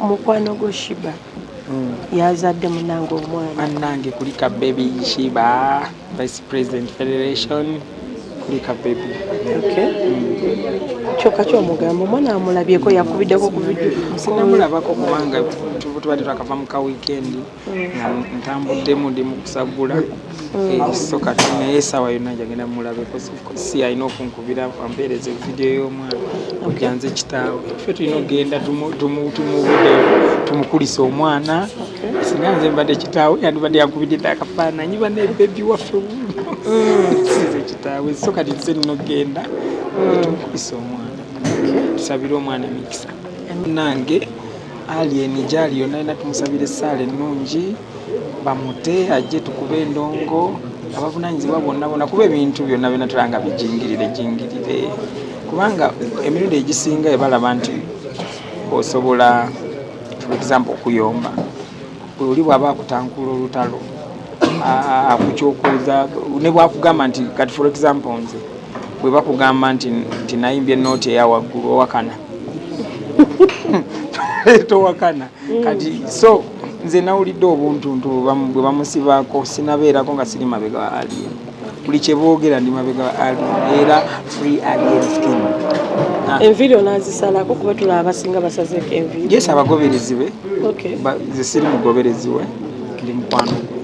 mukwano gwo shiba mm. yazadde munange omwana anange kulika baby shiba vice president federation kulika baby okay. mm. kyoka kyomugambo omwana amulabyeko yakubiddeko kuvidio sinamulabako kubanga tuba tetwakava mu ka wikendi ntambuddemu ndi mukusagula mm. eh, so kati naye esaawa yonna njagenda mulabe si alina okunkubira ampeereza evidiyo y'omwana kujja nze kitaawe fe tulina okugenda tumubudeyo tumukulisa omwana singa nze mbadde kitaawe yandibadde yankubidde akafaananyi banebebi waffe mm. size kitaawe so kati nze nina okugenda mm. tumukulisa omwana tusabire omwana emikisa nange Alien gyali yonna alina tumusabira essaala ennungi bamute ajje tukube endongo abavunanyizibwa bonna bona kuba ebintu byonna byona tulanga bijingirire jingirire kubanga emirundi egisinga ebalaba nti osobola for example okuyomba oli bwaba akutankula olutalo akukyokuuza ne bwakugamba nti kati for example nze bwebakugamba nti nayimbye nooti eyawaggulu owakana towakana mm. kati so nze nawulidde obuntuntu bwe bamusibaako sinabeerako nga siri mabega wa alien buli kyeboogera ndi mabega wa alien era free alien skin ah. enviiri onazisalako kuba tulaba abasinga basazeeko enviiri yes abagoberezi be zesiri mugoberezi we ndi mukwano gwe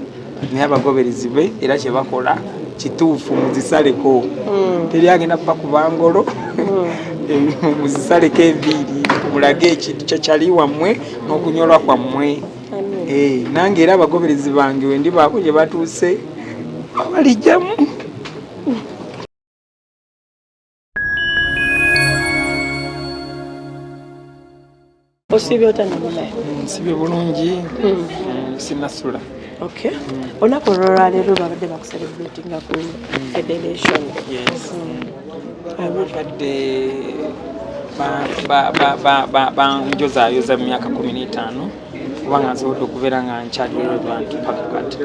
naye abagoberezi be era kyebakola kituufu muzisaleko hmm. teri agenda kuba kubangolo hmm. muzisaleko enviiri mulage ekintu kyakyali wammwe n'okunyolwa kwammwe eh, nange era abagoberezi bange wendi baako gye batuuse abalijjamu osiibye otya namulaye nsibye bulungi hmm. mm, sinasula okay mm. olunaku olwolwaleero babadde bakuserebratinga ku mm. federation abadde banjozayoza mu myaka kumi n'etaano kubanga nsobodde okubeera nga nkyali relevant paka kati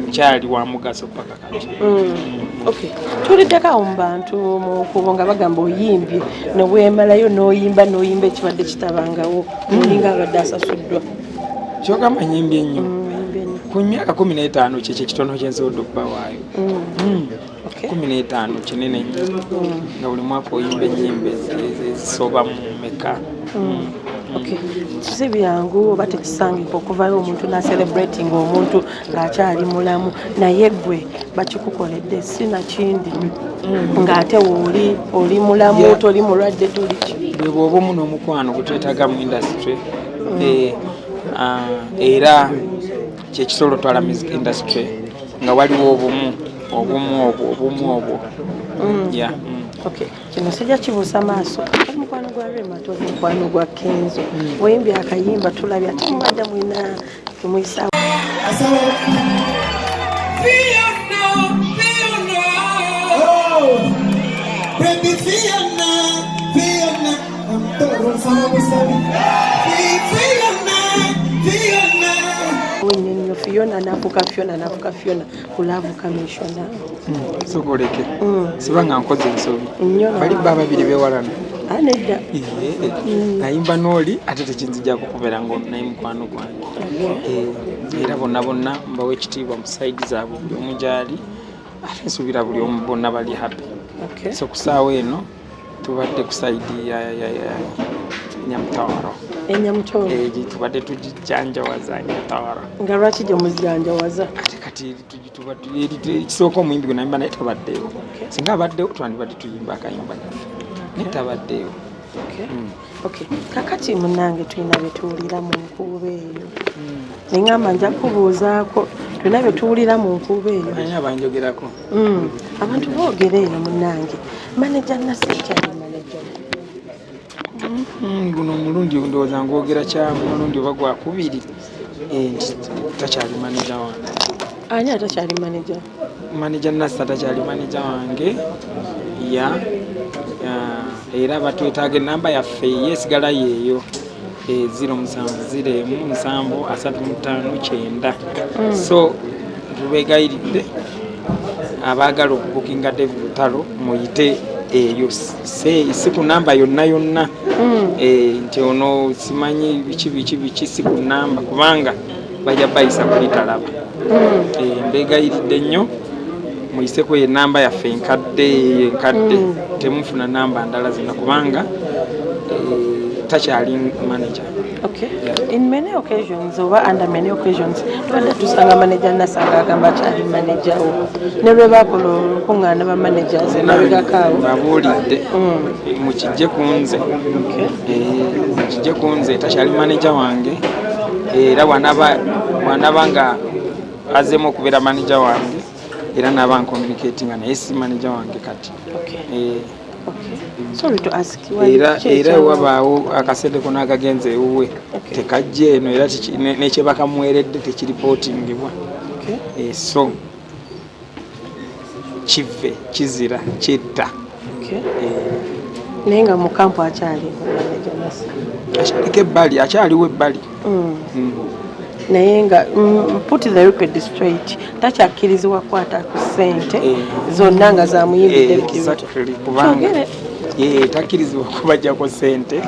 nkyali wa mugaso paka Mm. Okay. Tuliddeko awo mu bantu mu kubo nga bagamba oyimbye ne weemalayo n'oyimba n'oyimba ekibadde kitabangawo olinga mm. abadde asasuddwa kyogamba nyimbye nnyo mm, ku myaka kumi n'etaano kyekyo ekitono kyensobodde okuba waayo kumi n'etaano kinene nnyo nga buli mwaka oyimba ennyimba ezisoba mu meka si byangu oba tekisangika okuvayo omuntu nacerebrating omuntu ng'akyali mulamu naye gwe bakikukoledde si nakindi mm. ng'ate wooli oli mulamu toli mulwadde toliki bwe bwoba omu n'omukwano gutwetaga mu indasitry mm. eh, ah, era kyekisolo twala music indasitry nga waliwo obumu obumu obwo obumu obwo mm. kino sijja kibuusa maaso omukwano gwa rema ti omukwano gwa kenzo wembi akayimba tulabye ate mubanja mwina temuyisa Fiona nafuka Fiona nafuka Fiona kulaavu kamishona hmm, sokoleke hmm. sibanga nkoze ensobi bali bba babiri bewalana ah, nedda hmm. nayimba nooli ate tekinzija kukubera ngo naye mukwano gwange eh, era bonna bonna mbawa ekitiibwa mu saidi zaabwe buli omu gyali ate nsuubira buli omu bonna bali happy so ku saawa eno tubadde ku saidi enyamutawaro enyamutawaro egi tubadde tugijanjawaza enyamutawaro nga lwaki gye muzijanjawaza ate kati ekisooka omuyimbi gwe nayimba naye tabaddeewo singa abaddewo twandibadde tuyimba akayimba naffe naye tabaddeewo hmm. Okay. Kakati munange tulina betuwulira mu nkuuba eyo hmm. neŋamba nja kubuuzaako tulina betuwulira mu nkuuba eyo abanjogerako hmm. abantu boogera eyo munange maneja nasekyali maneja hmm, guno omulundi ndowooza ngwogera kyamu omulundi oba gwakubiri eh, nti takyali maneja wange ani atakyali maneja Manager Nassa takyali manager wange ya era batwetaaga enamba yaffe yesigala yeeyo e, ziro musanvu ziro emu musanvu asatu mutaano kyenda mm. so tubegayiridde abaagala okubukinga David Lutalo muyite eyo si ku namba yonna yonna mm. eh, nti ono simanyi biki biki biki si ku namba kubanga bajja bayisa kuli talaba hmm. eh, mbegayiridde nnyo muyiseko enamba yaffe enkadde enkadde hmm. temufuna namba ndala zina kubanga eh, takyali manager Okay. Yeah. In many occasions, over under many occasions, twada tusanga manager nasanga agamba kyali manager wo. Ne bwe bakola olukung'aana ba managers emabegako awo. Babuulidde mm. mukijje ku nze. Okay. kijje ku nze takyali maneja wange era bwanaba nga azemu okubeera maneja wange era naba nkomunikatinga naye si maneja wange kati eh, era wabaawo akasente kona akagenza ewuwe tekajja eno era nekyebakamuweredde tekiripootingibwa eh, so kivve kizira kitta eh. naye nga mukampu akyali akyaliko ebbali akyaliwo ebbali mm. Mm. naye nga mm, put the record straight takyakkirizibwa kukwata ku ssente eh. zonna nga zamuyimbiddekubanga eh, takkirizibwa kubajjako ssente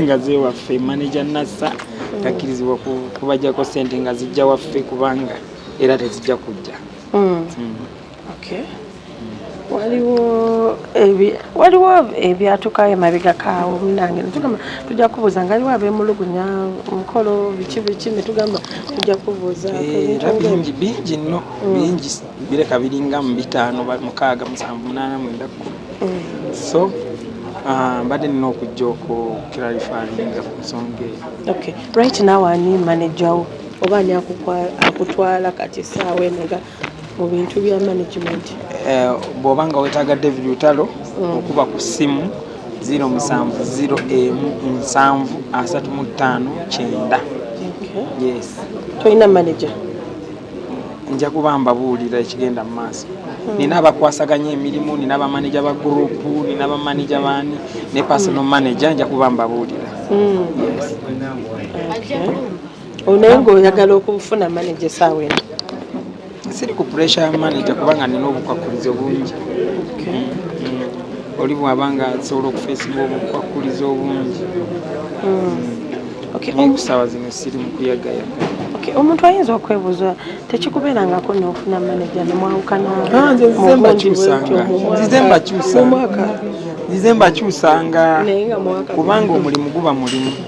nga zewaffe manaja nassa takkirizibwa kubajjako ssente nga zijja waffe kubanga era tezijja kujja hmm. Hmm. waliwo waliwo ebyatukayo emabega kaawo munange netugamba tujja kubuuza nga aliwo abemulugunya mukolo biki biki netugamba tujja kubuuza eh, bingi bingi nno hmm. bingi bireka biringa mu bitaano mukaaga musanvu munaana mwenda kkumi so Ah, mbadde nina okujja okukiralifaringa ku nsonga eyo okay right now ani manager wo oba ani akutwala kati esaawa eno nga mu bintu bya management eh, bw'oba nga wetaaga david lutalo mm. okuba ku ssimu 070735 yes tolina manager nja kuba mbabuulira ekigenda mu maaso hmm. nina abakwasaganya emirimu nina bamaneja ba gurupu nina bamaneja baani ne personal hmm. manager nja kuba mbabuulira hmm. Oh, naye ng'oyagala okufuna manager esaawa eno siri ku puresha ya manager kubanga nina obukwakkulizo bungi mm, mm. oli bwaba nga asobola okufeesinga obukwakkulizo obungi mm. naye kusaawa zino siri mu kuyagayaga omuntu ayinza okwebuuza tekikubeerangako nofuna manaja nemwawukanazize mbakyusanga kubanga omulimu guba mulimu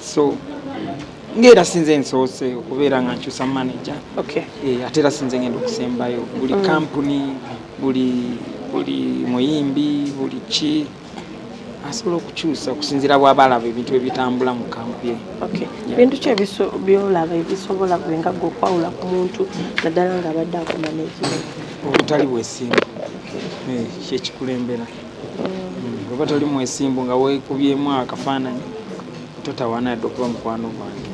so ngaera sinze nsoose okubeera nga nkyusa manaja eh, ate era sinze ngenda okusembayo buli mm. kampuni buli buli muyimbi buli ki asobola okukyusa okusinzira bwaba alaba ebintu ebitambula mu kampu ye bintu ki byolaba ebisobola bwenga gwe okwawula ku muntu naddala nga abadde akomaneki obutali bwesimbu eh, kyekikulembera bweba toli mwesimbu nga wekubyemu akafaananyi totawana yadde okuba mukwano gwange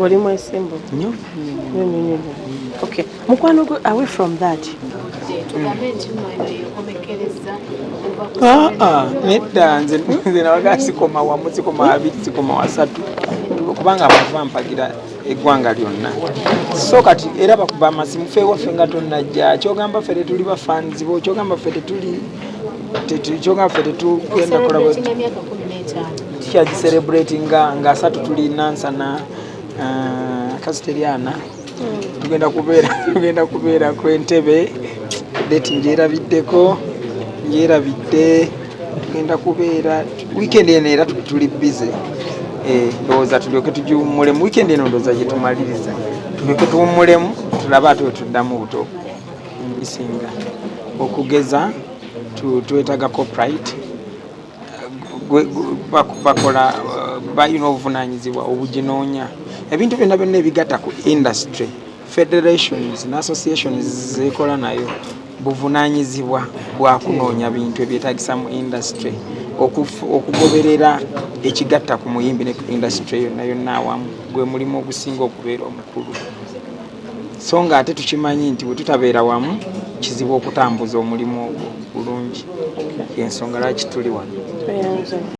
oli mwesimbu nyo mukwano gwe away from that ah, ah, nedda nze nawaga sikoma wamu sikoma abiri sikoma wasatu kubanga abantu bampagira eggwanga lyonna so kati era bakuba amasimu fe waffe nga tonnajja kyogamba ffe tetuli bafanzi bo kyogamba ffe tetuli kyogamba ffe tetugenda kulaba tukyagiserebrati nga nga asatu tuli nansana uh, kasiteriana hmm. tugenda kubeera tugenda kubeera ku entebe deti njerabiddeko njerabidde tugenda kubeera Weekend eno era tuli busy eh, ndowooza tulyoke tugiwummulemu weekend eno ndowooza gye tumaliriza tulyoke tuwummulemu tulabe ate wetuddamu buto bisinga okugeza twetaga coprit bakola balina obuvunanyizibwa obuginoonya ebintu byonna byonna ebigatta ku industry federations ne associations zekola nayo buvunanyizibwa bwa kunoonya bintu ebyetagisa mu industry okugoberera ekigatta ku muyimbi ne industry yonna yonna awamu gwe mulimu ogusinga okubeera omukulu so nga ate tukimanyi nti bwe tutabeera wamu kizibu okutambuza omulimu ogwo bulungi ensonga lwaki tuli wano